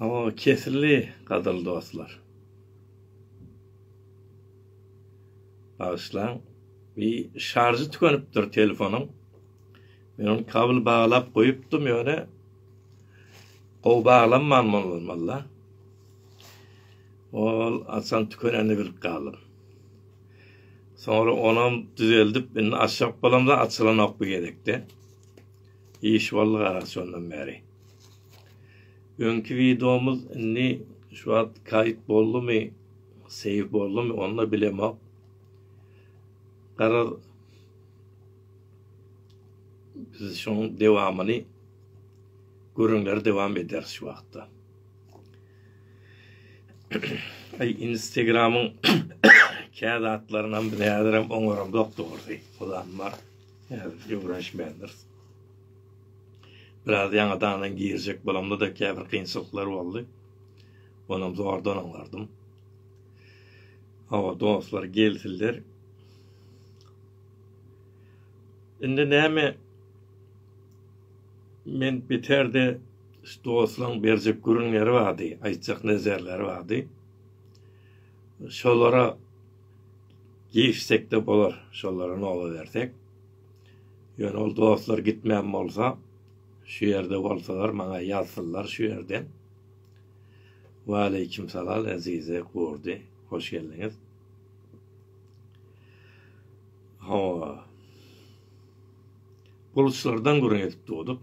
Hawa, kesildi, gadyrly dostlar. Bagyşlaň, bir şarjy tükenipdir telefonyň. Men ony kabel baglap goýupdym, ýöne gowy baglanman bolmaly. Ol açan tükenenini bilip galdym. Soňra onam düzeldip, indi açjak bolamda açylanok bu gezekde. Iş boldy gara şondan bäri. Öňki wideomyz indi şu wagt kaýyt boldumy, seýw boldumy, ony da bilemok. Garaz, biz şoň dewamyny gürrüňleri dewam ederis şu wagtda. Ay Instagram'yň kä zatlarynam biz häzirem oňaramzok dogrusy. Olam bar. Häzir ýöwrenişmändiris. Biraz ýaňadanam girjek bolamda da käbir kynçylyklar boldy. Onam zordan oňardym. Hawa dostlar gelsinler. Indi näme men biterde Şu dostlaryň berjek gürrüňleri bardy, aýtjak nezerleri bardy. Şolara girişsek-de bolar, şolara noba bersek. Ýöne ol dostlar gitmän bolsa, şu ýerde bolsalar, maňa ýazsynlar şu ýerden. Waleýkim salal, Ezize Gurdy, hoş geldiňiz. Hawa. Bulutlardan gürrüň edip durduk.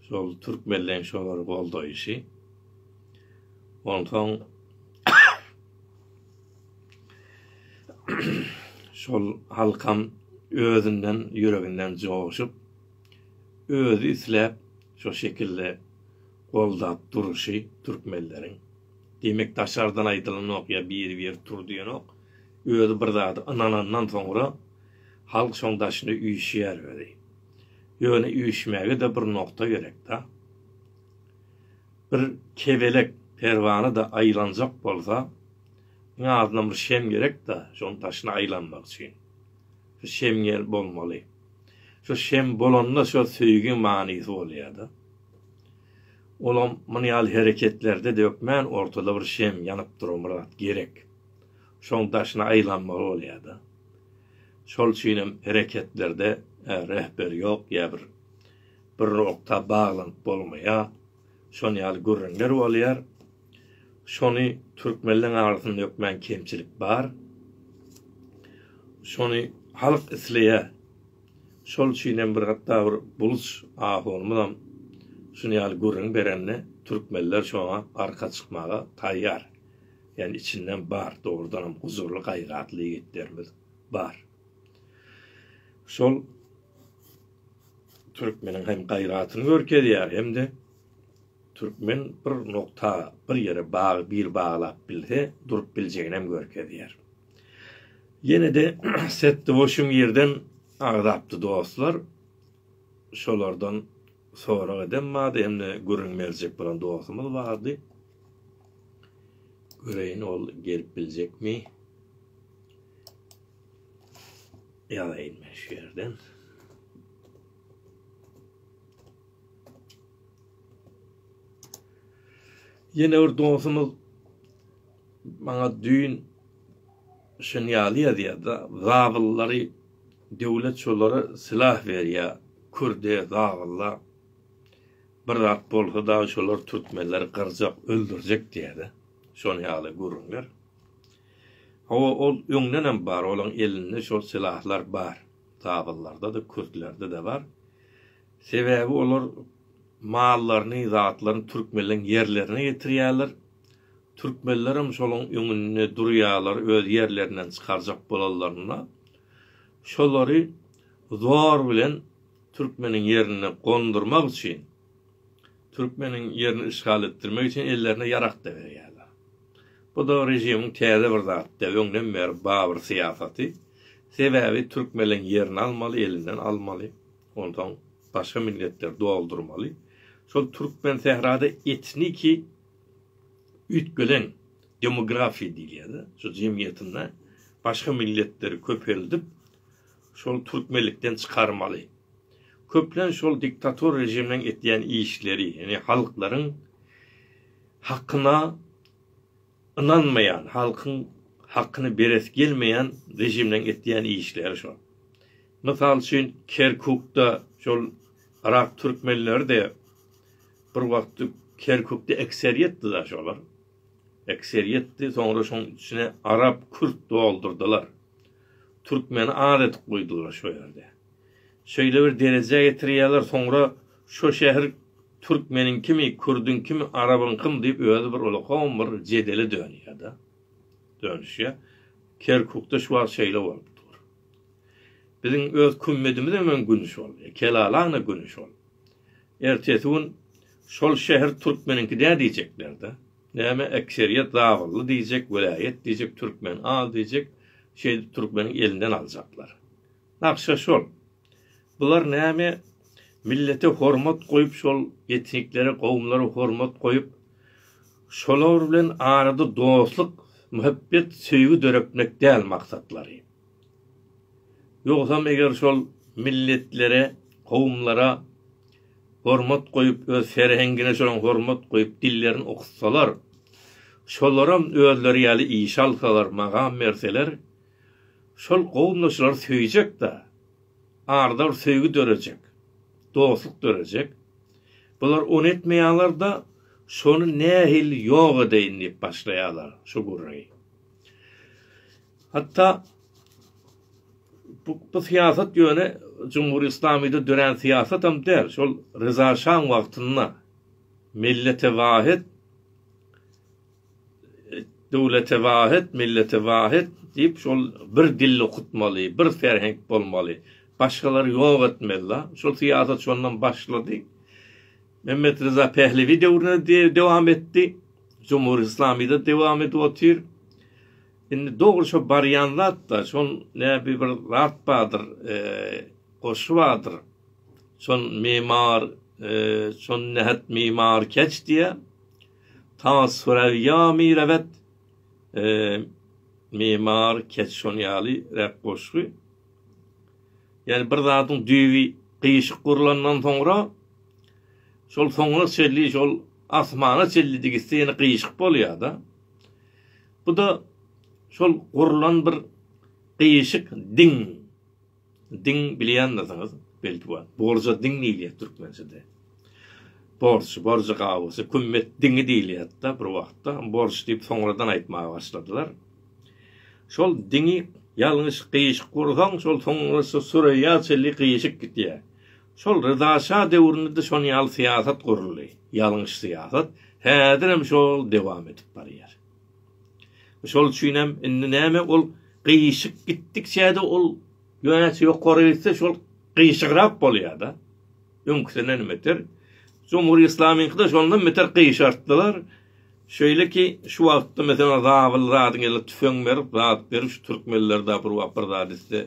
Şol türkmenleň şolar goldaýşy. Onsoň şol halkam özünden, ýüreginden joşup, özi isläp şo şekilde goldap durşy türkmenleriň. Diýmek, daşardan aýdylanok ýa biri-biri tur diýenok. Özi bir zada ynanandan soňra halk şoň daşyna üýşýär özi. Ýöne üýşmäge-de bir nokta gerek-dä. Bir kebelek perwana-da aýlanjak bolsa, iň azyndan bir şem gerek-dä şoň daşyna aýlanmak üçin. Şu şem ýel bolmaly. Şu şem bolanda şo söýgiň manysy bolýa-da. Olam muny ýaly hereketlerde-de hökmän ortada bir şem ýanyp duran bir zat gerek. Şoň daşyna aýlanmaly bolýa-da. Şol üçinem hereketlerde rehber ýok ýa bir bir nokta baglanyp bolmaýar. Şon ýaly gürrüňler bolýar. Şony türkmenleň arasyna dökmän kemçilik bar. Şony halk isleýär. Şol üçinem bir hatda bir buluç ahunymyzam şun ýaly gürrüň berende türkmenler şoňa arka çykmaga taýýar. Ýani içinden bar dogrudanam guzurly gaýratly ýigitlerimiz bar. Şol türkmeniň hem gaýratyny görkezýär hem-de türkmen bir nokta bir ýere bag bir baglap bilse durup biljegini hem görkezýär. Ýene-de setdi boşum ýerden agzapdy dostlar. Şolardan sorag edem bardy hem-de gürrüň berjek bolan dostumyz bardy. Göreýin ol gelip biljekmi? Ýazaýyn men şu ýerden. Ýene bir dostumyz maňa düýn şun ýaly ýazýar-da, zabyllary döwlet şolara silah berýär, kürde, zabylla. Bir zat bolsa dagy şolar türkmenleri gyrjak, öldürjek diýýädä. Şonuň ýaly gürrüňler. Hawa, ol öňdenem bar, olaň elinde şol silahlar bar. Zabyllarda-da, kürtlerde-de bar. Sebäbi olar mallaryny, zatlaryny türkmenleň ýerlerine getirýärler. Türkmenlerem şolaň öňünde durýarlar, öz ýerlerinden çykarjak bolanlarynda şolary zor bilen Türkmeniň ýerini gondurmak üçin, türkmeniň ýerini işgal etdirmek üçin ellerine ýarak-da berýärler. Bu-da režimiň täze bir zat däl, öňden bäri babyr syýasaty. Sebäbi türkmeleň ýerini almaly, elinden almaly, onsoň başga milletleri doldurmaly. Şol türkmen sährada etniki üýtgelen demografiýa diýilýär-de, şu jemgyýetinde başga milletleri köpeldip, şol türkmenlikden çykarmaly. Köplenç şol diktator rejiminiň etýän işleri, ýagny halklaryň hakyna ynanmaýan, halkyň hakyny beresi gelmeýän rejiminiň etýän işleri şol. Mysal üçin, Kerkukda şol yrak türkmenleri-de bir wagt Kerkukda ekseriýetdi-de şolar. Ekseriýetdi, soňra şoň içine arap, kürt doldurdylar. Türkmeni az edip goýdular şo ýerde. Şeýle bir derejä getirýärler soňra şo şäher türkmeniňkimi, kürdüňkimi, arabyňkymy diýip özi bir ulakam bir jedele dönýärde. Dönüşýär. Kerkukda şu wagt şeýle bolup dur. Biziň öz kümmedimiz hem güni şol. Kelalaňda güni şol. Ertesi gün şol şäher türkmeniňki dä diýjeklerdi. Näme ekseriýet zabylly diýjek welaýat diýjek türkmen al diýjek şeýdip türkmeniň elinden aljaklar. Nagşa şol. Bular näme millete hormat goýup şol etniklere gowumlara hormat goýup şolar bilen arada dostluk muhebbet söýgi döretmek däl maksatlary. Ýogsam eger şol milletlere, kowumlara hormat goýup, öz serhengine şolaň hormat goýup dillerini okutsalar, şolaram özleri ýaly işe alsalar, magam berseler, şol kowumda şulary söýjek-de, arada bir söýgi dörejek, dostluk dörejek. Bular ony etmeýärler-de, şony nähili ýok edeýin diýip başlaýarlar, şu gürrüňi. Hatda bu bu syýasat ýöne Jumhur Islamyda dörän syýasatam däl. Şol Ryza şaň wagtynda Millete wahet, döwlete wahet, millete wahet diýip şol bir dilli okutmaly, bir ferhenk bolmaly, başgalary ýok etmeli la. Şol syýasat şondan başlady. Mehmet Ryza Pehlewi döwründe dowam etdi. Jumhur Islamyda dowam edip otyr. Indi dogry şo barýan zat-da, şol näbi bir zat bardyr, goşgy bardyr. Şol memar, şol nähät memar keç diýýär. Ta Sürewýa mirebet, memar keç şon ýaly räk goşgy. Ýani bir zadyň düýbi gyýşyk gurlandan soňra, şol soňuna çenli şol asmana çenli degişse ýene gyýşyk bolýar-da. Bu-da şol gurlan bir gyýyşyk diň. Diň bilýändirsiňiz, belki bar. Borja diň diýilýär türkmençede. Borç, borjy gawusy, kümmet diňi diýilýärdi-de bir wagtda. Borç diýip soňradan aýtmaga başladylar. Şol diňi ýalňyş gyýyşyk gursaň, şol soňra şu Süreýýa çenli gyýyşyk gidýär. Şol Ryza şa döwründe-de şon ýaly syýasat guruldy. Ýalňyş syýasat häzirem şol dowam edip barýar. Şol üçinem indi näme ol gyýşyk gitdikçe-de ol ýöneçi ýokary gitse şol gyýşygrap bolýar-da. Öňküsinden beter. Jumhur Islamyňky-da şondan beter gyýşartdylar. Şeýle ki şu wagtda meselem zabyl zadyň eline tüfeň berip zat berip şu türkmenler-de bir wagt bir zat etse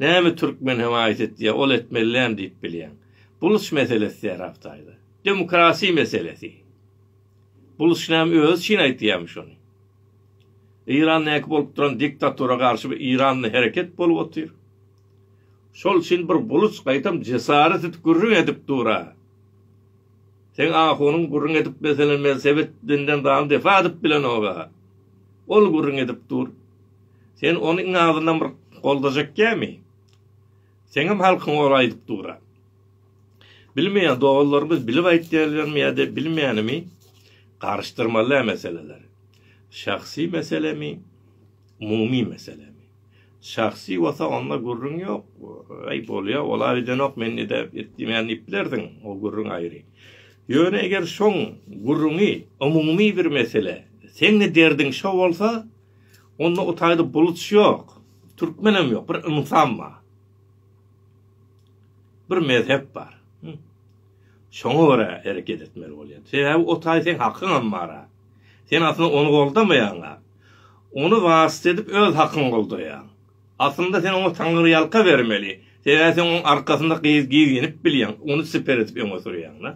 Näme türkmen hem aýt etýä ol etmelilän diýip bilýäň. Buluç meselesi serap taýza. Demokrasiýa meselesi. Buluç näme özi üçin aýtýamy şony. Iran näki bolup duran diktatura garşy bir Iranda hereket bolup otyr. Şol üçin bir buluç gaýtam jesaret edip gürrüň edip dura. Seň ahunyň gürrüň edip meselen men sebet benden dany defa edip bilenok-a. Ol gürrüň edip dur. Sen ony iň azyndan bir goldajak gämi? Seňem halkyň ol aýdyp dura. Bilmeýän doganlarymyz bilip aýtýarlarmy ýa-da bilmänimi, garyşdyrmaly-ä meseleleri. Şahsy meselemi, umumy meselemi. Şahsy bolsa onda gürrüň ýok. Aý, bolýa, ol-a edenok, men nede etdimen diýip bilersiň, o gürrüň aýry. Ýöne eger şoň gürrüňi umumy bir mesele, seň-de derdiň şo bolsa, Onda utaýda buluç ýok, türkmenem ýok, bir ynsan bar. Bir mezhep bar. Şoňa görä hereket etmeli bolýar. Sebäbi utaý seň hakyňam bar-a. Sen aslynda ony goldamaýaň-a. Ony wasyt edip öz hakyňy goldaýaň. Aslynda sen oňa taňryýalka bermeli. Sebäbi sen oň arkasynda gyz gyz ýenip bilýäň, ony siper edip öňe sürýäň-de.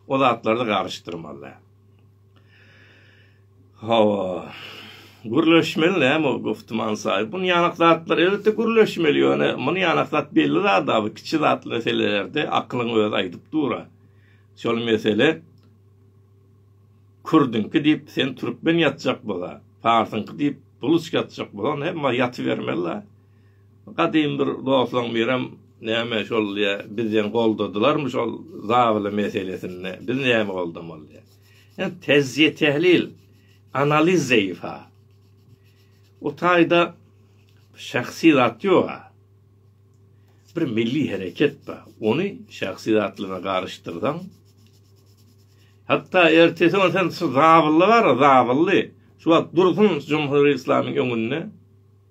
O zatlarda garyşdyrmaly däl. Hawa. Gürleşmeli näme ol goftuman saýy. Bun ýanak zatlar elbetde gürleşmeli ýöne bun ýanak zat belli zat a bu kiçi zat meselelerde akylyň özi aýdyp dur a. Şol mesele kürdüňki diýip sen türkmen ýatjak bola. Parsyňky diýip buluç ýatjak bola onda hemma ýatybermeli la. Gadym bir doslaň birem näme şol diýä biz diýen goldadylarmy şol zabyly meselesinde biz näme goldamaly diýä. Ýani tezziýe tehlil analiz zeýfa. O taýda şahsy zat ýoga. Bir milli hereket ba. Ony şahsy zatlyga garyşdyrdan. Hatta ertesi on sen şu zabylly bar, zabylly. Şu wagt dursun Cumhuriyet İslamyň öňünde.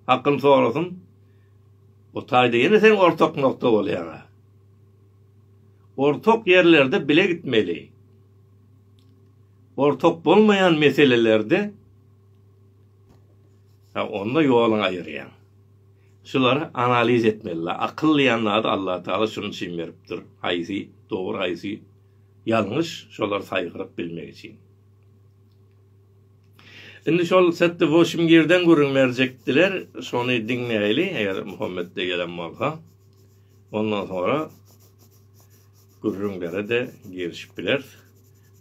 Hakkym sorasyn, bu taýda ýene seň ortak nokta bolýaňa. Ortak ýerlerde bile gitmeli. Ortak bolmaýan meselelerde ha onda ýoluňy aýyrýaň. Şulary analiz etmeli. Akyl diýen zady Allah Taala şunuň üçin beripdir. Haýsy dogry, haýsy ýalňyş, şolary saýgaryp bilmek üçin. Indi şol setde Woşim Girden gürrüň berjekdiler, şony diňleýli, eger Muhammet de gelen bolsa. Ondan sonra gürrüňlere-de girişip bileris.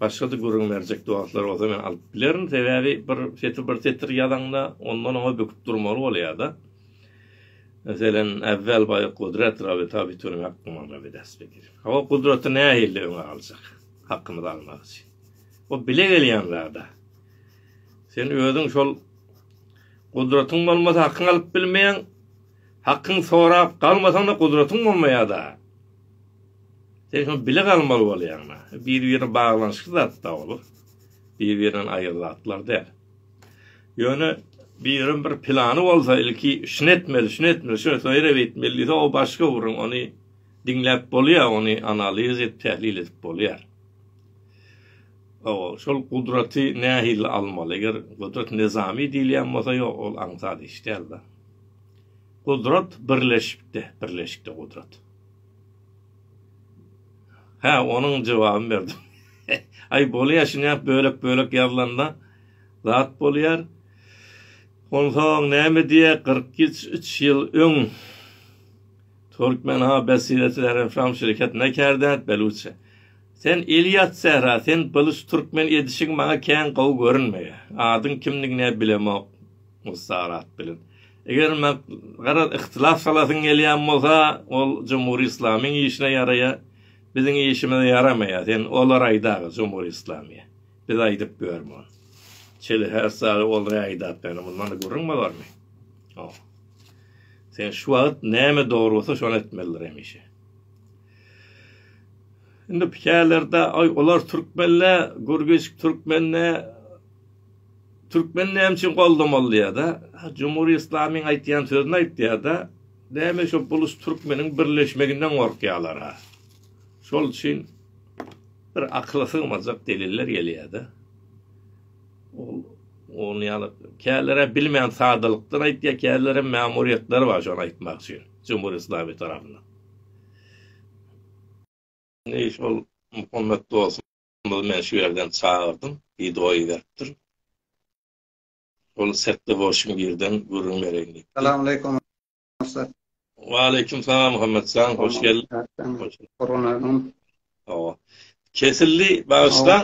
Başga-da gürrüň berjek dostlar bolsa men alyp bilerin, sebäbi bir setir bir setir ýazaňda ondan oňa büküp durmaly bolýar-da. Meselem, äwwel baý Gudrat Rabi Tabitüni Hakkymyň Rabi Desbegir. Hawa, Gudraty nähili öňe aljak? Hakkymyzy almak üçin. Bu bile gelýän zada. Sen özüň şol gudratyň bolmasa hakyňy alyp bilmeýäň. Hakyň sorap galmasaň-da gudratyň bolmaýar-da. Sen şony bile galmaly bolýaň-da. Bir-birine baglanyşykly zatda olar. Bir-birinden aýry zatlar däl. Ýöne biriň bir plany bolsa, ilki şuny etmeli, şuny etmeli, şuny şeýle etmeli diýse, o başga gürrüň. Ony diňläp bolýar, ony analiz edip, tählil edip bolýar. Hawa, şol gudraty nähili almaly? Eger gudrat nyzamy diýilýän bolsa, ýok, ol aňsat iş däl-de. Gudrat birleşikde, birleşikde gudrat. Hä, onuň jogabyny berdim. Aý, bolýar, şunyap bölek-bölek ýazylanda zat bolýar. Onsoň näme diýýär, kyrk üç, üç ýyl öň Türkmen ha Besiretileriň Fram şirketine kärde, Beluçe. Sen Ilias Sähra, sen gylyç türkmen edişiň maňa kän gowy görünmeýär. Adyň kimdigine-ä bilemok Mussar at bilen. Eger maňa garaz yhtylas salasyň gelýän bolsa, ol Jumhuri Islamyň işine ýaraýar, biziň işimize ýaramaýar, sen olary aýdaga Jumhuri Islamyýa. Biz aýdyp görme ony. Çili her sary olary aýdap ýöne mundan-da gürrüň bolarmy? Ýok. Sen şu wagt näme dogry bolsa şony etmelidir hemişe. Indi pikälerde aý olar türkmenle gürgiç türkmenle türkmen näme üçin goldamaly diýada. Jumhuri Islamiň aýtýan sözüni aýtýada. Näme şo bulus türkmeniň birleşmeginden gorkýalar ha. Şol üçin bir akyla sygmajak deliller gelýäde. Ol ony ýaly kälere bilmän sadalykdan aýtýa, kälere mämuriýetleri bar şony aýtmak üçin. Jumhuri Islami tarapyndan. Indi şol Muhammet dostumyzy men şu ýerden çagyrdym, wideo iberipdir. Ol setde bolşuň birden gürrüň bereýin diýip. Salamaleýkum ussat. Waleýkim salam Muhammetjan, hoş geldiň. Hoş Kesildi, bagyşlaň.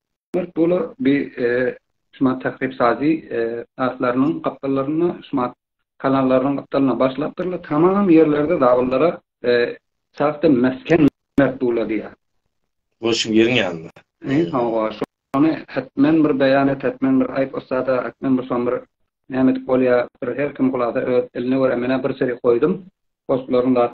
Dört dolar bi Şumat takryp sazy atlarynyň gapdallaryna Şumat kanallarynyň gapdalyna başlapdyrlar. Tamam ýerlerde zabyllara sagtyn mesken berip durlar diýýär. Bu şu ýeriň ýanynda. Eý, hawa, şony hetmen bir beýan et, hetmen bir aýt ussada, hetmen bir şony bir näme edip bolýar, bir her kim hulasa öz eline görä menä bir çeýe goýdum, postlaryň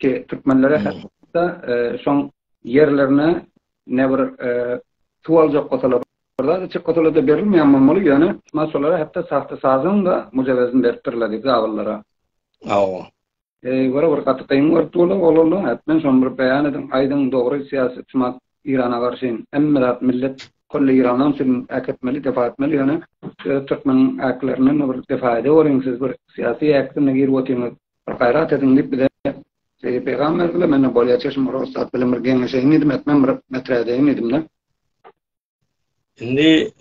Ki türkmenlere hatta şoň ýerlerine ne bir suw aljak bolsalar Birda çyk otala da berilmeýän bolmaly, ýöne maşgalara hatda sahta sazyň da mujawezini beripdirler diýip zabyllara. Awa. Eý, wara bir gaty gyň görüp durlar, olalla, hatdan şoň bir beýan ediň, aýdyň, dogry syýasy çymak Irana garşy, hemme zat millet Kolli Iranan üçin äketmeli, defa etmeli, ýöne türkmeniň äklerine bir defa ede boluň, siz bir syýasy äkdine girip otyňyz. Bir gaýrat ediň diýip bize şeýdip peýgam berdiler. Men-de bolýa çeşme bir ussat bilen bir geňeşeýin diýdim, etmem bir meträdeýin diýdim-de. Indi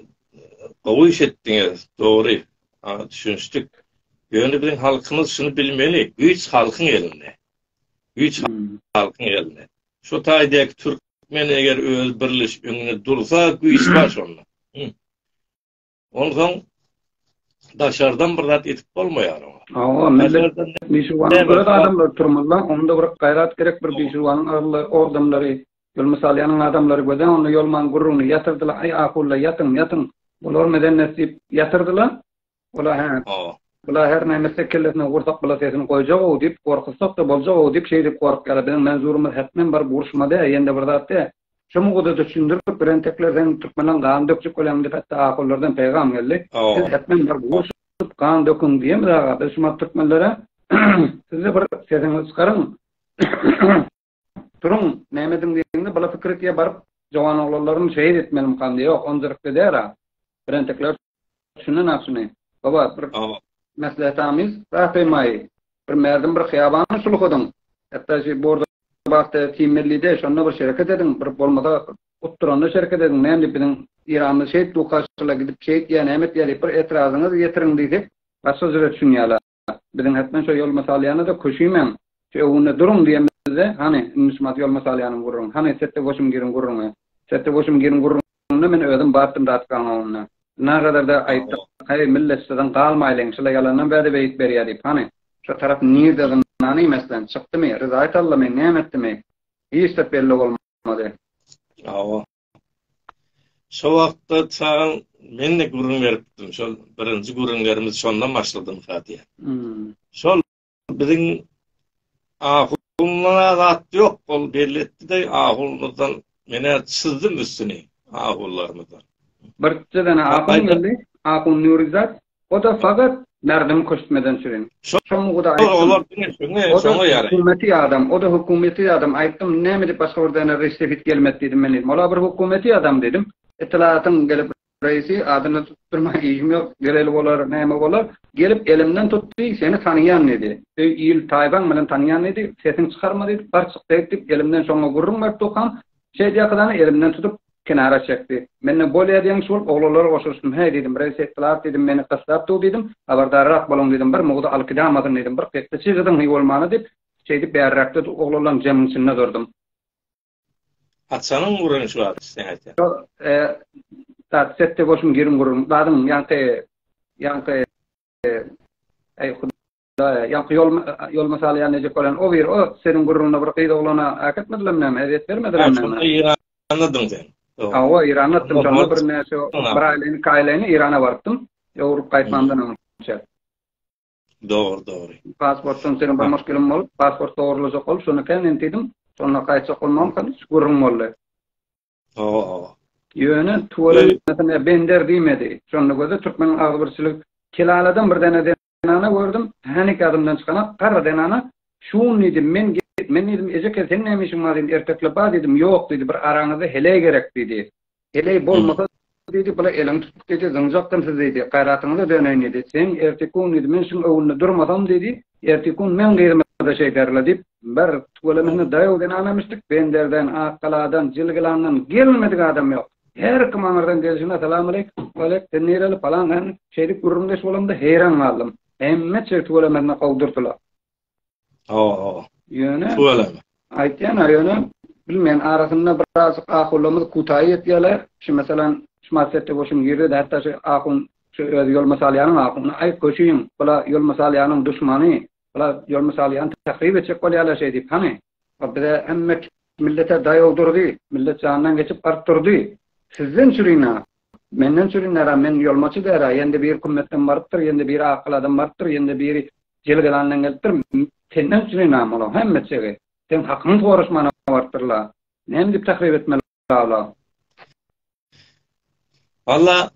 gowy iş etdiňiz, dogry. Düşünişdik. Ýöne biziň halkymyz şuny bilmeli, güýç halkyň elinde. Güýç hmm. halkyň elinde. Şu taýdaky türkmen eger öz birleş öňüne dursa, güýç bar şonda. Onsoň daşardan bir zat edip bolmaýar oňa. Hawa, millet bişiwanyň öz adamlary turmazda, onda bir gaýrat gerek, bir bişiwanyň agly ordamlary, ýol mysal ýanyň adamlary göze, onda ýolmaň gürrüňini ýatyrdylar, aý ahulla ýatyň, ýatyň, bular medennet diýip ýatyrdylar. Ola hä, bular her näme etse kellesine gursak bula sesini goýjak-ow diýip, gorkuzsak-da boljak-ow diýip, şeýdip gorkýarlar. Biziň Manzurymyz hetmen bir buruşmady, ýende bir zat dä, Şu mowzuda düşündirip birentekler sen türkmenleň gan dökjek bolýaň diýip hatda ahunlardan peýgam geldi. Siz hetmen bir gurşup gan döküň diýemiz aga biz şumat türkmenlere sizde bir sesiňizi çykaryň turuň näme ediň diýende bula fikir etýär baryp jowan oglanlaryny şehit etmelimkan diýýär ýok onjyrykly dälä birentekler Şundan ak şuny. Baba bir meslehetamyz rasymaý. Bir merdim bir hyýabany sulhadyň. Hatda şu borda bagtda kim bellide şonda bir şereket ediň. Bir bolmasa utduranda şereket ediň. Näme diýip biziň Iranymyz şeýtdi ukaşyla gidip şeýt diýýä näme etýä diýip bir etrazyňyzy ýetiriň diýsek başga jüre düşünýäler. Biziň hetmen şo ýoluma salýana-da köşümäň, şu öwgünde duruň diýenimizde, hany, indi şu mat ýoluma salýanymy gurruň, hany, setde goşum giriň gurruň-a, setde goşum giriň gurruň-da, men özüm batdym datkaň oňüne. Nagaryda aýtdyk, Häý, millet, şudan galmaýlyň, şular ýalandan bäde beýik berýär diýip, hany. Şu tarap nirde zyndany meslen, çykdymy, ryzaýt Allamy, näme etdimi, hiç zat belli bolmady. Hawa. Şo wagtda çagan men-de gürrüň beripdim. Şol birinji gürrüňlerimiz şondan başladym ha diýýär. Şol biziň ahundan azat ýok, ol belli etdi-de, ahunlardan men-ä çyzdym üstüni, ahunlarymyzdan. Bir-iki däne ahun geldi, ahun Nürizat, O-da fakat Merdim köştmeden sürin. Şo muguda aýtdym. O-da hökümeti adam, o-da hökümeti adam. Aýtdym, näme edip başga bir däne restefit gelmedi diýdim men diýdim. Ol-a bir hökümeti adam diýdim. Itlaýatyň gelip reisi, adyny tutdurmaýa işim ýok, geleli bolar, näme bolar. Gelip elimden tutdy, seni tanaýan diýdi. Öý, il, taýpaň bilen tanaýan diýdi. Sesiňi çykarma diýdi, bar çyk beýt diýip, elimden şoňa gürrüň beripdi okam. Şeýdýäkadany elimden tutup, kenara çekdi. Men-de Bolýa diýen kişi bolup oglanlara goşulyşdym. Häý, diýdim, bir ýekeje etdilat, diýdim, meni gyssap dur, diýdim, habardarrak boluň, diýdim, bir mugdy alkydamasyn, diýdim, bir kekse çygydyň hyý bolmana, diýip, şeýdip bäriräkde dur oglanlaryň jeminiň içinde durdum. Atjanyň guran işi bar, içseň aýtýan. Ýok, e, dat, setde bolşum girin gurun, dadyň ýaňky, ýaňky, e, äý, Ýaňky ýol ýol mysaly ýa nejek bolan o bir o seniň gürrüňiňde bir gyz oglana äketmedilem näme ezýet bermediler näme? Anladyň sen. Hawa, Iran atdym şonda bir näçe bir aýlyny, iki aýlyny Irana barypdym. Ýowrup gaýtmamdan öňçe. Dogry, dogry. Pasportdan seniň bir muşkilim bolup, pasport dogrulajak bolup, şonu kem entidim. Şonda gaýtjak bolmam hem gürrüň boldy. Hawa, hawa. Ýöne tuweleme bender diýmedi. Şonda göze türkmen agzybirçilik kelaladan bir däne zenana gördüm, häneki adamdan çykanok, garry zenana, Şun diýdim, men git, men diýdim, Ejeke, seň näme işiň bar diýdim, ertekle bar diýdim, ýok diýdi, bir araňyzda heleý gerek diýdi. Heleý bolmasa diýdi, bula eliňi tutup diýdi, zyňjakdym sizi diýdi, gaýratyňyza döneýin diýdi. Seň ertekun diýdi, men şuň öňünde durmasam diýdi, ertekun meň gyzyma-da şeýderler diýip, bir tüweleme daýaw zenanamyşdyk, Benderden, Akgaladan, Jilgilandan gelmedik adam ýok. Her kim aňyrdan gelşine Salamalik, Walek, sen nireli, falan, hän, şeýdip gürrüňdeş bolamda heýran galdym. Hemme çig tüwelemezine gowdurdylar. Ho-ho. Ýöne. Tüweleme. Aýtýan-a, ýöne, bilmeýän, arasynda birazjyk ahunlarymyz kutaýy ýetýärler. Şu, meselem, şu Massetde goşun girdi-de, hatda şu ahun, şu özi ýolma salýanyň ahuny, Aý, köşüň, bula ýolma salýanyň duşmany, Bular ýol mysaly ýaly tahryp etjek bolýarlar şeý diýip. Hany, o bize hemme millete daýaw durdy, millet jandan geçip baryp durdy. Sizden çürin-ä, menden çürinler-ä, men ýolmaçy däl-ä, ýende biri kümmetden barypdyr, ýende biri akyl adam barypdyr, ýende biri jelgelandan gelipdir, senden çürin-ä, munuň hemmejigi seň hakyňy soraşmana barypdyr-la, näme diýip tahryp etmeli Salam. Valla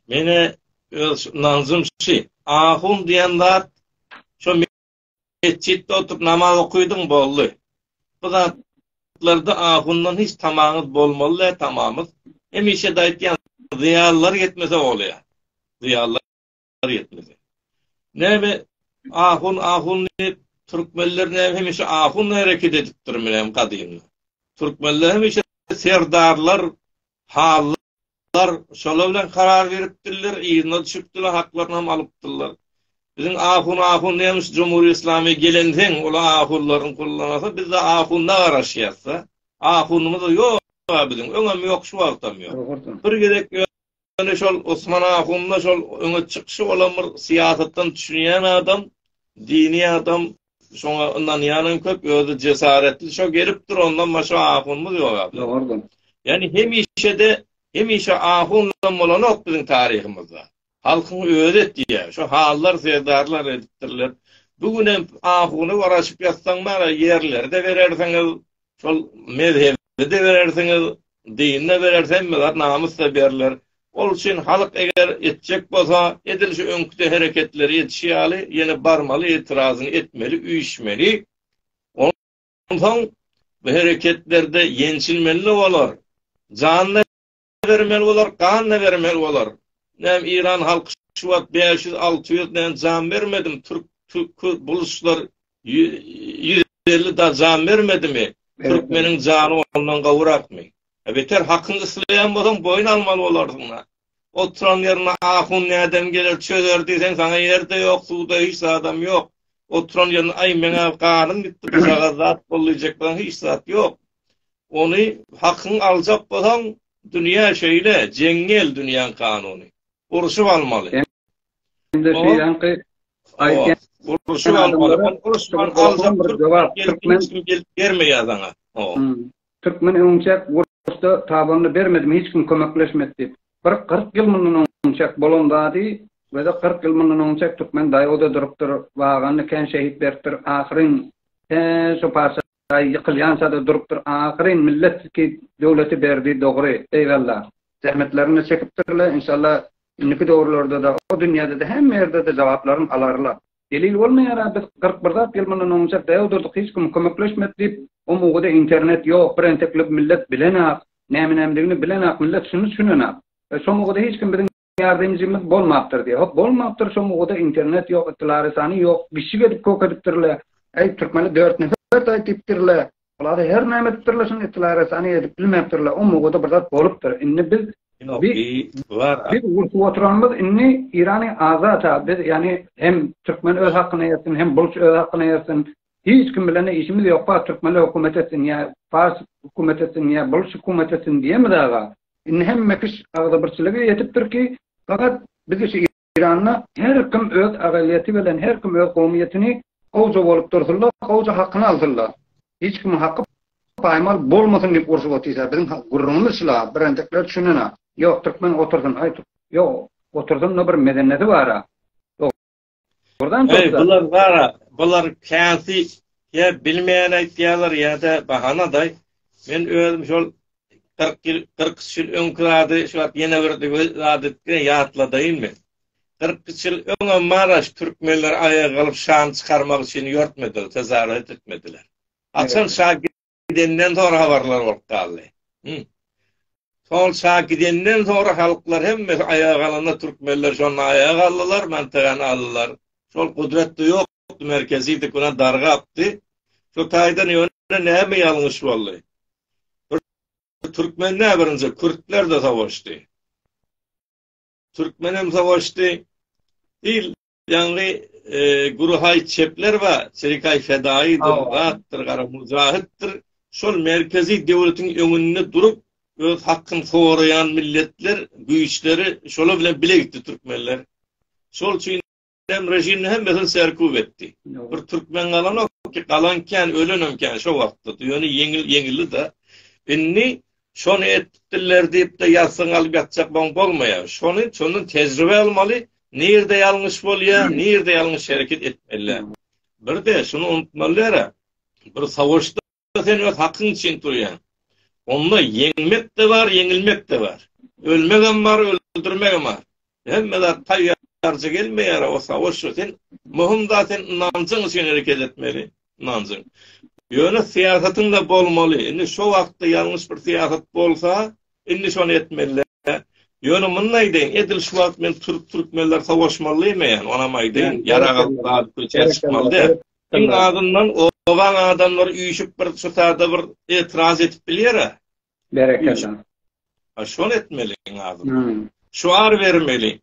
mene öz nanzym şu. Ahun diýen zat şu metjitde oturup namaz okuýdyň boldy. Bu zatlarda ahundan hiç tamaňyz bolmaly däl tamamyz. Hemişe de aýtýan zyýalylar ýetmese bolýar. Zyýalylar bar ýetmese. Näme ahun ahun diýip türkmenler näme hemişe ahun hereket edipdirminem gadymdan. Türkmenler hemişe serdarlar, hallar şolar bilen karar beripdirler, yzyna düşüpdirler, haklaryny hem alypdyrlar. Biziň ahun ahun nämiş Jumhur Islami gelenseň, ol ahunlaryň kullanasy, biz de ahuna garaşýasda. Ahunymyz ýok biziň, öňem ýok, şu wagtam ýok. Bir gezek Ýöne şol Osman ahunda şol öňe çykyşy bolan bir syýasatdan düşünýän adam, dini adam, şoňa ynanýanam köp, özi jesaretli şo gelip dur, ondan başga ahunymyz ýok aba. Dogrudyr. Ýani hemişe-de, hemişe ahundan bolanok biziň taryhymyzda. Halkyň özi etýär. Şo hallar, serdarlar edipdirler. Bu gün hem ahuny garaşyp ýatsaň bar, ýerleri-de berersiňiz, şol mezhebe Bize-de berersiňiz, dine berers, hemme zat namysda berler. Ol üçin halk eger etjek bolsa, edil şu öňküde hereketleri edişi ýaly, ýene barmaly, etirazyny etmeli, üýşmeli. Onsoň bu hereketlerde ýençilmeli-de bolar. Jan-da bermeli bolar, gan-da bermeli bolar. Näme, Iran halky şu wagt bäş ýüz, alty ýüz näme jan bermedimi? Türk, türk, buluşlar ýüz elli da jan bermedimi? Türkmeniň jany ondan gowurakmy? Beter hakyňy isleýän bolsaň, boýun almaly bolarsyň-a. Oturan ýerine ahun nädem geler, çözer diýseň, saňa ýer-de ýok, suw-da, hiç zadam ýok. Oturan ýerine, aý, meň-ä ganym gitdi, bu çaga zat bol diýjek bolsaň, hiç zat ýok. Ony hakyňy aljak bolsaň, dünýä şeýle, jeňňel dünýäň kanuny. Urşup almaly. Hem-de şeýleňki aýdýan. Urşup almaly. Ony uruşman aljak hiç kim gelip bermeýär saňa. Türkmen öňçäk uruşda tabanyny bermedimi, hiç kim kömekleşmedi diýip. Bir kyrk ýyl mundan öňçäk bolan zady we-de kyrk ýyl mundan öňçäk türkmen daýow-da durupdyr, waganda kän şehit beripdir. Ahyryn, hä, şo parça Daýy ýykylýançada durupdyr ahyryn millet ki döwleti berdi dogry eýwalla. Zähmetlerini çekipdirle inşallah indiki döwürlerdede o dünýädede hemme ýerdede jogaplaryn alarla. Delil bolmaýara biz kyrk bir zat ýyl mundan onça däw durduk hiç kim kömekleşmedi diýip o mugyda internet ýok bir enteklik millet bilenak näme nämedigini bilenak millet şuny tüşünenäk şo mugyda hiç kim biziň ýardymçymyz bolmapdyr diýýär. Hop, bolmapdyr, şo mugada internet ýok, ytlary sany ýok, gişik edip kök edipdirler. Äý, türkmene dört nefer taýt diýipdirler. Bular-a her näme edipdirler, şuny ytlary sany edip bilmepdirler. O mugada bir zat bolupdyr. Indi biz Biz urşup oturanymyz indi Irany azat-a, biz ýagny hem türkmen öz hakyny ýetsin, hem bulç öz hakyny ýetsin. Hiç kim bilen-de işimiz ýokka türkmenler hökümet etsin ýa pars hökümet etsin ýa bul şükumet etsin diýemiz aga. Indi hemme kiş agzybirçilige ýetipdir ki fakat bizi şu Iranda her kim öz agalyýeti bilen her kim öz gowmyýetini gowja bolup dursunla gowja hakyny alsynla hiç kimiň haky paýmal bolmasyn diýip urşup otysa biziň gürrüňimiz şula birenjekler düşünena ýok türkmen otursyn aý ýok otursynla bir medeneti bara. Buradan Ey, bular gara, bular käsi ya bilmeýän aýtýarlar ýa-da bahana-da. Men özüm şol 40 ýyl, 40 ýyl öňki zady şu wagt ýene bir zady ýatladaýyn men. 40 ýyl öňem Maraş türkmenler aýaga galyp şan çykarmak üçin ýörtmediler, tezaret etmediler. Açan şa Gidenden soňra habarlar bolup galdy. Hum. Sol şa gidenden soňra halklar hemmesi aýaga galanda türkmenler şonda aýaga galdylar, mantygany aldylar. Şol gudratda ýokdy, merkezidi kuna dargapdy. Şu taýdan ýöne näme ýalňyş boldy? Bir türkmende birinji kürtler-de savaşdy. Türkmenem savaşdy. Dil Ýaňy Guruhaý çepler we Çerikaý fedaýy demokratdyr, gara mujahytdyr. Şol merkezi döwletiň öňünde durup, öz hakkyny soraýan milletler, güýçleri şolar bilen bile gitdi türkmenler. Şol üçin hem režimde hemmesini serkup etdi. Bir türkmen galanok ki, galan kän, ölenem kän şo wagtda. Ýöne ýeňil, ýeňildi-de. Indi Şony etipdirler diýip-de ýazsyň alyp ýatjak boň bolmaýar. Şony şondan tejribe almaly, nirde ýalňyş bolýar, nirde ýalňyş hereket etmeli. Bir-de şuny unutmaly däl-ä, bir sowaşda sen öz hakyň üçin turýaň. Onda ýeňmek-de bar, ýeňilmek-de bar. Ölmegem bar, öldürmegem bar. Hemme zat taýýarja gelmeýär osa oşa sen möhüm zat sen ynanjyň üçin hereket etmeli ynanjyň ýöne syýasatyňda bolmaly indi şo wagtda ýalňyş bir syýasat bolsa indi şony etmeli ýöne muny aýdaýyn edil şu wagt men türk türkmenler sowaşmaly diýmeýän onam aýdaýyn ýarag alyp gaz köçä çykmaly däl iň azyndan obaň adamlary üýşüp bir şu sada bir etiraz edip bilýär-ä Berekella. Ha şol etmeliň adyny. Hmm. Şuar bermeli.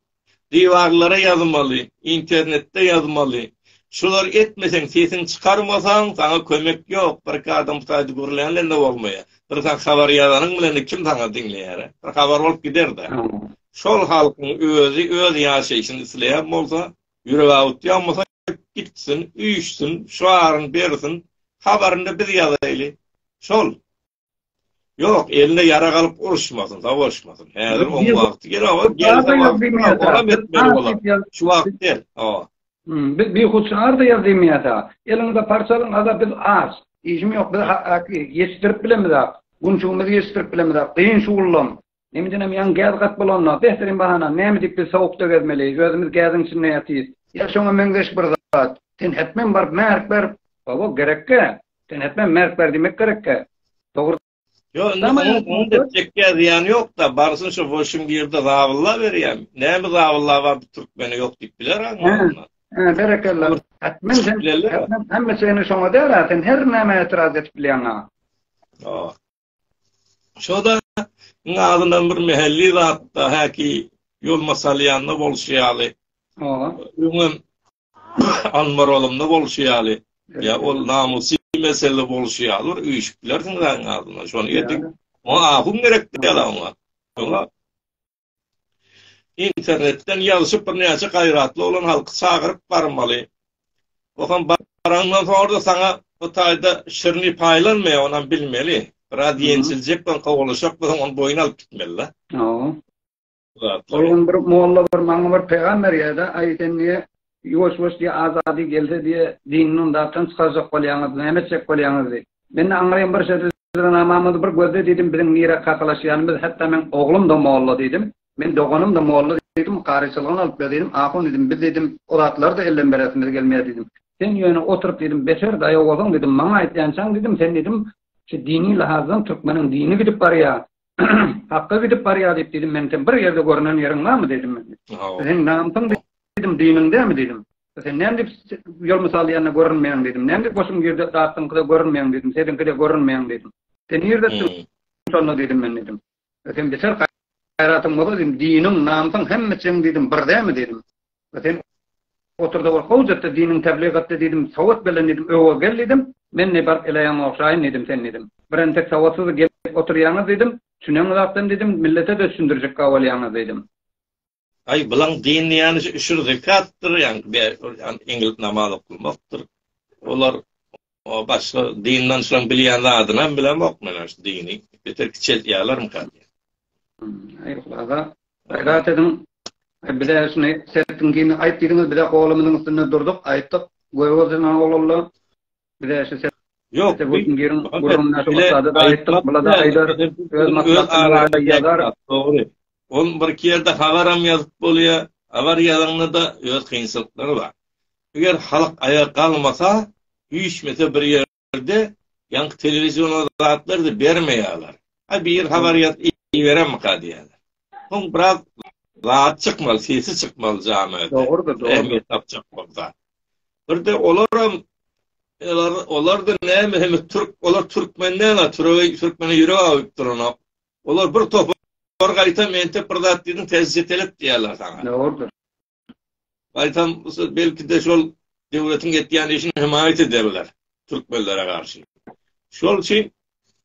Diwarlara ýazmaly, internetde ýazmaly. Şular etmeseň, sesiň çykarmasaň, saňa kömek ýok. Birki adam saýdy gürlänlende bolmaýa. Bir sen habar ýazanyň bilen kim saňa diňleýär? Bir habar bolup gider-de. Şol halkyň özi öz ýaşaýşyny isleýän bolsa, ýüregi awutýan bolsa gitsin, üýşsin, şuaryny bersin, habaryny biz ýazaýly. Şol. Ýok, eline ýarag alyp uruşmasyn, savaşmasyn. Häzir oň wagty gel, awa, gel, awa, awa, metmeli bolar. Şu wagt gel, awa. Biz bir hut şaharda ýazymyýa da. Eliňde parçalyň, aga, biz az. Işim ýok, biz ýetişdirip bilemizak. Günçügimizi ýetişdirip bilemizak. Gyn şugullam. Indinem ýaňy gäz gat bolanda, behtirin bahana, näme diýip biz sowukda gezmeli, özümiz gäziň içinde ýatyrys. Ýa şoňa meňzeş bir zat, sen hetmen baryp märk ber, hawa, gerek-ä, sen hetmen märk ber diýmek gerek-ä. Dogry. Ýok, indi onuň etjekkä zyýany ýok-da, barsyn şo bolşuň bir ýerde zabylla berýän. Näme zabylla bar, bu türkmene ýok diýip biler-ä ondan. Hä, berekella. Hetmen sen, hetmen hemme çyny şoňa däl-ä, sen her nämä etiraz edip bilýäň-ä. Ýok. Şo-da iň azyndan bir mähelli zatda häki ýol masalýanda bolşy ýaly. Oba. Öňem Anmaralymda bolşy ýaly. Ýa ol namysy mesele bolşy ýaly bir üýşüp bilersiň zaň azyndan. Şony edip. Oňa ahun gerek däl oňa. Oňa Internetden ýazyşyp birnäçe gaýratly oglan halky çagyryp barmaly. Okan baraňdan soňra-da saňa bu taýda şirni paýlanmaýar onam bilmeli. Biraz ýenjiljek bolan kowalaşak bolsaň ony boýun alyp gitmelida. Hawa. Ol gün bir molla bir maňa bir peýgam berýärde, aý sen niýe Ýuwaş-ýuwaş diýe azady gelse diýe diňiňden dartan çykarjak bolýaňyz, näme etjek bolýaňyz diýip. Mende aňryýan bir şerti Jyzranamamyzy bir gözle diýdim, biziň nirä kakalaşýanymyz, hatda meň oglum-da molla diýdim, meň doganym-da molla diýdim, karyçylygam alyp ber diýdim, ahun diýdim, biz diýdim, o zatlary-da elden beresimiz gelmeýär diýdim. Sen ýöne oturyp diýdim, beter daýawozyň diýdim, maňa aýtýançaň diýdim, sen diýdim, şu dini lahazdan türkmeniň dini gidip barýar, Hakga gidip barýa diýip diýdim, men sen bir ýerde görnen ýeriň barmy diýdim men. Sen namysyň diýdim, diniň dämi diýdim. Sen näme diýip ýol mysal ýanyna görünmeýäň diýdim. Näme diýip goşuň ýerde datdyň gyza görünmeýäň diýdim. Seziňki de görünmeýäň diýdim. Sen ýerde şonda diýdim men diýdim. Sen biçer gaýratyň bolsa diýdim, diniň, namysyň hemme çeň diýdim, bir dämi diýdim. Sen otur-da bir howz et-de, diniňi tebligat et-de diýdim, sowat belle diýdim, öe gel diýdim. Men ne baryp eleýän ogşaýyn diýdim, sen diýdim. Bir entek sowatsyz gelip oturýaňyz diýdim. Çüneň zatdan diýdim, millete-de düşündirjekka bolýaňyz diýdim. Aý, bulaň din diýýäni şu üşür zekatdyr, ýaňky ýan eňilip namaz oklmakdyr. Olar O başga dindan şoň bilýän zadyny hem bilemok men şu dini. Beter kiçeltýärlermika diýen. Aýr hulaga. Gaýrat ediň. Bize şuny sertiň giňini aýt diýdiňiz, bize golumyzyň üstünde durduk, aýtdyk. Göwüzden oglanlar. Bize şu ser. Ýok, götün girin, gurrun näşe bolsa-da aýtdyk, bulada aýdar, öz maslahatyny ýazar. Dogry. Ol birki ýerde habaram ýazyp bolýar, habar ýazanda-da öz kynçylyklary bar. Eger halk aýa galmasa, üýşmese bir ýerde, ýaňky telewizion o zatlary-da bermeýärler. Aý bir habar ýazyp iberemika diýýärler. Soň biraz zat çykmaly, sesi çykmaly jamiada. Dogrudyr, dogrudyr. Ähmiýet tapjak bolsa. Bir-de olaram, olar, olar-da näme, hemme türk, olar türkmen däl-ä, türege, türkmene ýürek awyp duranok. Olar bir topar gaýtam entek bir zat diýdiň täze çetelek diýýärler saňa. Dogrudyr. Gaýtam belki-de şol döwletiň etýän işini hemaýat ederler türkmenlere garşy. Şol üçin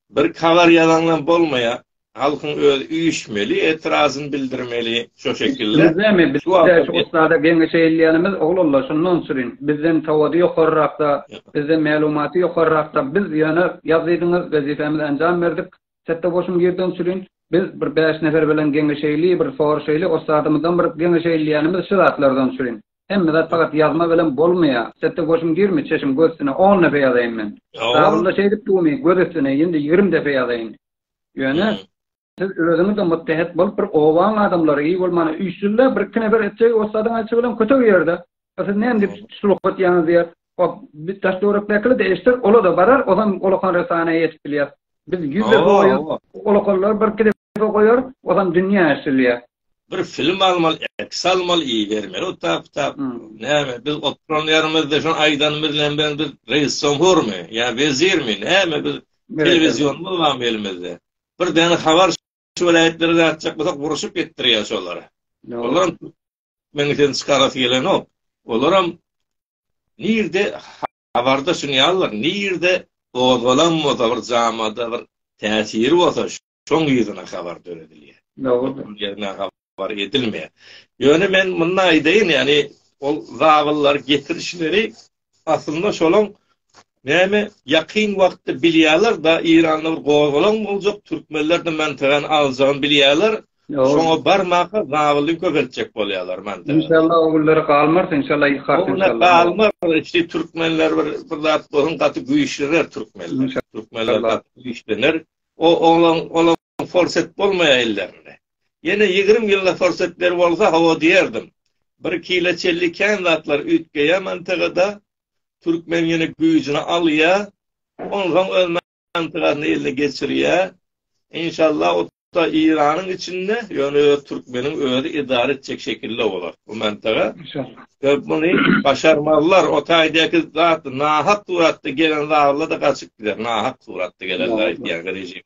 bir kabar ýazaňdan bolmaýar. Halkyň özi üýşmeli, etirazyn bildirmeli şo şekilde. Näme biz şu ussada geňeş eýleýänimiz oglanlar şondan sürüň. Bizden sowady ýokarrakda, bizden mälumaty ýokarrakda biz ýöne ýaz diýdiňiz, wezipemizi enjam berdik. Çetde goşuň girdemçilin biz bir bäş nefer bilen geňeşeýli bir soraşaýly ossadymyzdan bir geňeşeýli diýýänimiz şu zatlardan üçin. Hemme zat pagat ýazma bilen bolmaýa. Çetde goşuň girmi çeşiň göz üstüne on depe ýazaýyn men. Kitabymda şeýdip dumy göz üstüne indi ýigrimi depe ýazaýyn. Ýöne siz özüňizde muttehet bolup bir obaň adamlary iý bolmana üýşsizle bir iki nefer etjegi ossadyň aýtşy bilen kötek ýerde. Siz näme diýip şurup atýaňyz diýer. O biz daş töwerekdekiler eşider, olar da barar, ozan olakan resanaýa ýetip bilýär. Biz ýüz depe goýarys, olakanlar bir-iki depe goýar, ozan dünýä eşidilýär. Bir film almaly, eks almaly, ibermeli otap-otap. Näme, biz oturan ýerimizde şony aýdan bilen bilen biz reissoňhurmy ýa wezirmi, näme biz telewizionymy barmy elimizde. Bir däne habar şu welaýatlara gatjak bolsak, uruşyp ýetdirýär şolara. Olaram Meň sen çykarasy gelenok. Olaram nirde habarda şunýalar, nirde gozgalan bolsa bir jamada bir täsiri bolsa şoň ýüzüne habar döredilýär. Dogrudyr. bar edilmeýär. Ýöne men muny aýdaýyn, ýagny ol zabyllar getirişleri Aslynda şolaň näme ýakyn wagtda bilýärler-da Eýranda bir gozgalaň boljak türkmenler de mantygany aljagyny bilýärler şoňa barmaka zabylyny köpeltjek bolýarlar mantygany. Inşallah o günlere galmarys inşallah ilkart inşallah. Galmarys işte türkmenler bir bir zat bolsun gaty güýçlener türkmenler. Türkmenler gaty güýçlener. O olaň olaň forsat bolmaýar ellerinde. Ýene ýigrimi ýylyna pursat ber bolsa hawa diýerdim. Bir kile çelli kän zatlar üýtgeýä mantygada. Türkmen ýene güýjüni alýa. Onsoň öz mantygasyny eline geçirýä. Inşallah otda Iranyň içinde ýöne öz türkmeniň özi edara etjek şekilde bolar bu mantyga. Inşallah. Ýa muny başarmazlar otaýdaky zat nahak suratda gelen zalylar da gaçyp gider nahak suratda gelenler aýtýan rejim.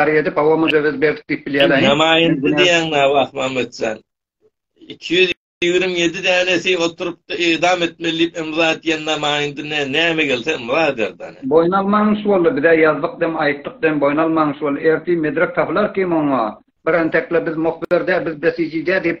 Araya edip hava mücevhez berdik diýip bilýäler. Namaýyndy diýýäňmi wah Mametjan. 227 dänesi oturypdy edam etmeli diýip imza atýan namaýyndy ne näme gelse imza ederdi. Boýun almaň iş boldy bize ýazdyk dem aýtdyk dem boýun almaň iş boldy. Ertir medrek tapylar kim oňa. Bir entekle biz muhbir dä biz besiji dä diýip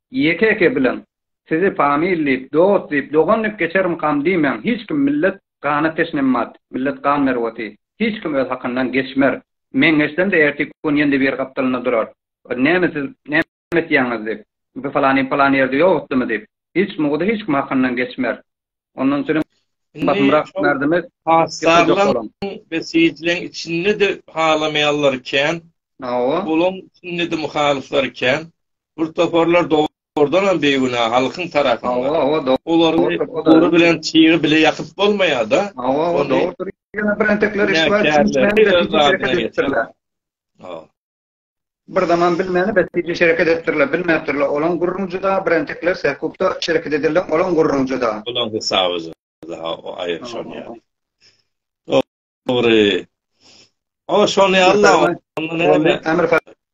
Ýeke-eke bileň. Sizi famil diýip, dost diýip, dogan diýip geçerimkam diýmäň, hiç kim millet gana teşnemmat, millet gan merweti, hiç kim öz hakyndan geçmer. Men geçsem-de ertiki gün ýene-de biri gapdalynda durar. Bir näme siz näme etýäňiz diýip, bu falany palan ýerde ýok etdimi diýip, hiç mugdy hiç kim hakyndan geçmer. Ondan üçin basymrak merdimek hasarlaryň besiýjileriň içinde-de halamaýanlar kän. Hawa. Olaryň içinde-de muhalyflar kän. Bir toparlar dogrudan hem beýgünä halkyň tarapynda. Hawa, hawa. Olary gury bilen çygy bile ýakyp bolmaýar-da. Hawa, hawa. Dogrudyr. Ýöne birentekler iştiwa üçin. Hawa. Bir zaman bilmäni bäsdiji şereket etdirle, bilmäpdirle, olaň gürrüňi juda, birentekler Sähkupda şereket edildiň, olaň gürrüňi juda. Olaň hysaby juda, o aýry şony ýaly. Dogry. O şony ýaly-la, onda näme? Ämir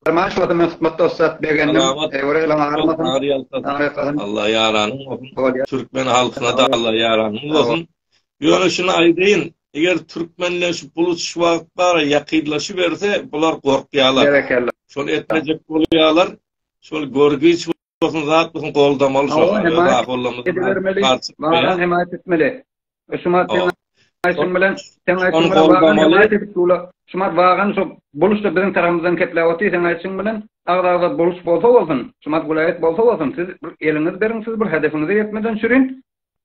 Farman şuwada men hyzmat dostat begendim. Selamat. Eýwor eýleň agyrmasyn. Agyr ýalkasyn. Alla ýaranyň bolsun. Türkmen halkyna-da Alla ýaranyň bolsun. Ýöne şuny aýdaýyn, eger türkmenleşip bulusuş wagtlary ýakynlaşyberse, bular gorkýarlar. Berekella. Şony etmejek bolýarlar. Şol görgüç bolsun, zat bolsun goldamaly şolary. Öz ahollamyzy edibermeli. Laran hemaýat etmeli. Şumat sen aýşyň bilen, sen aýşyň bilen wagan hemaýat edip dur. Şumat wagan şo buluşda biziň tarapymyzdan kepläp otyr, sen aýşyň bilen agza-agza buluş bolsa bolsun. Şumat welaýat bolsa bolsun. Siz eliňizi beriň, siz bir hedefiňize ýetmeden çürin.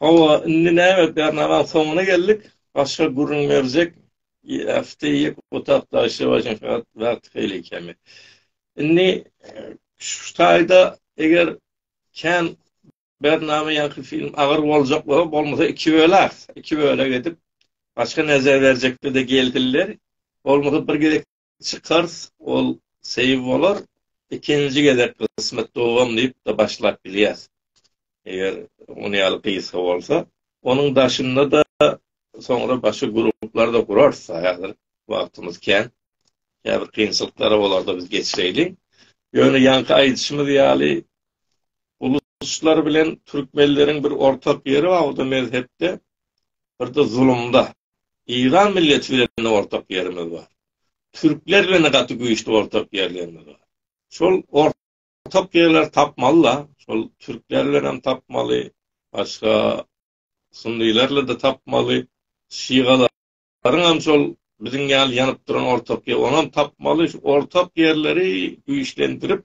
Hawa, indi näme, Bernamaň soňuna geldik, başga gürrüň berjek ýafty ýek otap daşlawaýşyň fakat wagty haýli kemi. Indi şu taýda eger kän Bernama ýaňky film agyr boljak bolsa, bolmasa iki böläs, iki bölek edip, başga näzä berjekdi-de geldiler, bolmasa bir gezek Çykars ol seýw bolar ikinji gezek gysmet dogam diýipde başlap bilýäs eger ony ýaly gysga bolsa onuň daşynda da soňra başga gruplar da gurars haýazir wagtymyz kän käbir kynçylyklary olarda biz geçireýli ýöne ýaňky aýdyşymyz ýaly uluslar bilen türkmenleriň bir ortak ýeri bar o da mezhepde birde zulumda Eýran milleti bilen ortak ýerimiz bar. Türkler bilen-de gaty güýçli ortak ýerlerimiz bar. Şol ortak ýerleri tapmaly-da. Şol türkler bilen hem tapmaly, başga sunnylarla-da tapmaly, şigalaryň hem şol biziň ýaly ýanyp duran ortak ýer, onam tapmaly. Şu ortak ýerleri güýçlendirip,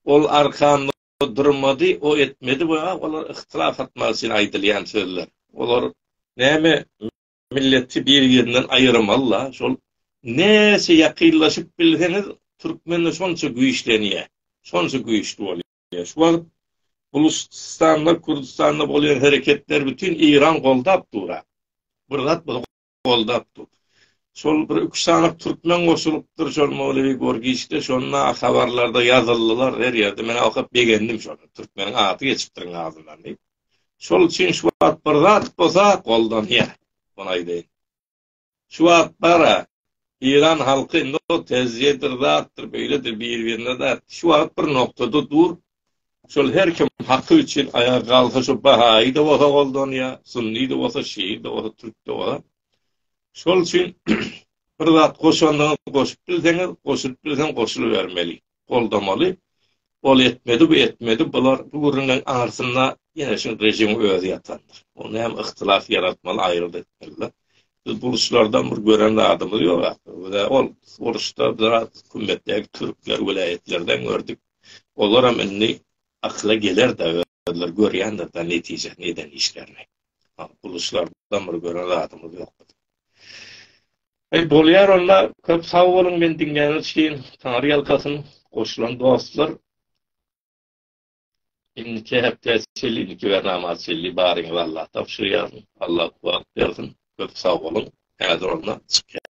ol arkanda O durmady, o etmedi we a olar yhtylas atmak üçin aýdylýan sözler. Olar näme milleti bir-birinden aýyrmaly-la, şol näçe ýakynlaşyp bilseňiz, türkmende şonça güýçlenýär, şonça güýçli bolýar. Şu wagt Buluşystanda, Kürdüstanda bolýan hereketleri bütin Eýran goldap dur-a. Bir zat bolsa goldapdyr. Şol bir üç sany türkmen goşulypdyr şol Mowlewi Gorgiçde şonda habarlarda ýazyldylar her ýerde men okap begendim şony türkmeniň ady geçipdir iň azyndan diýip. Şol üçin şu wagt bir zat bolsa goldanýar. Muny aýdaýyn. Şu wagt bara Eýran halky indi o tezjedir zatdyr beýledir bir-birine dat şu wagt bir noktada dur Şol her kim haky üçin aýa galsa şu bahaýy-da bolsa goldanýa, sunny-da bolsa, şii-da bolsa, türk-de bolsa. Şol üçin bir zat goşandyňyz goşup bilseňiz, goşulyp bilseň goşulybermeli, goldamaly. Ol etmedi, bu etmedi, bular bu gürrüňleň aňyrsynda ýene şu režimiň özi ýatandyr. Onda hem yhtylas ýaratmaly, aýrylyk etmeli. Biz bu uruşlardan bir gören zadymyz ýok. Ol uruşda biraz hükümetdäki türkler welaýatlardan gördük. Olaram indi akyla geler-dä özleri görýändir-dä netijesini eden işlerini. Buluçlardan bir gören zadymyz ýok biziň. Eý bolýar onda köp sag boluň meni diňläniz üçin Taňry ýalkasyn goşulan dostlar. Indiki hepde çenli indiki bernama çenli baryňyz Allah tabşyrýar. Allah kuwwat bersin. Köp sag boluň. Häzir onda çykýar.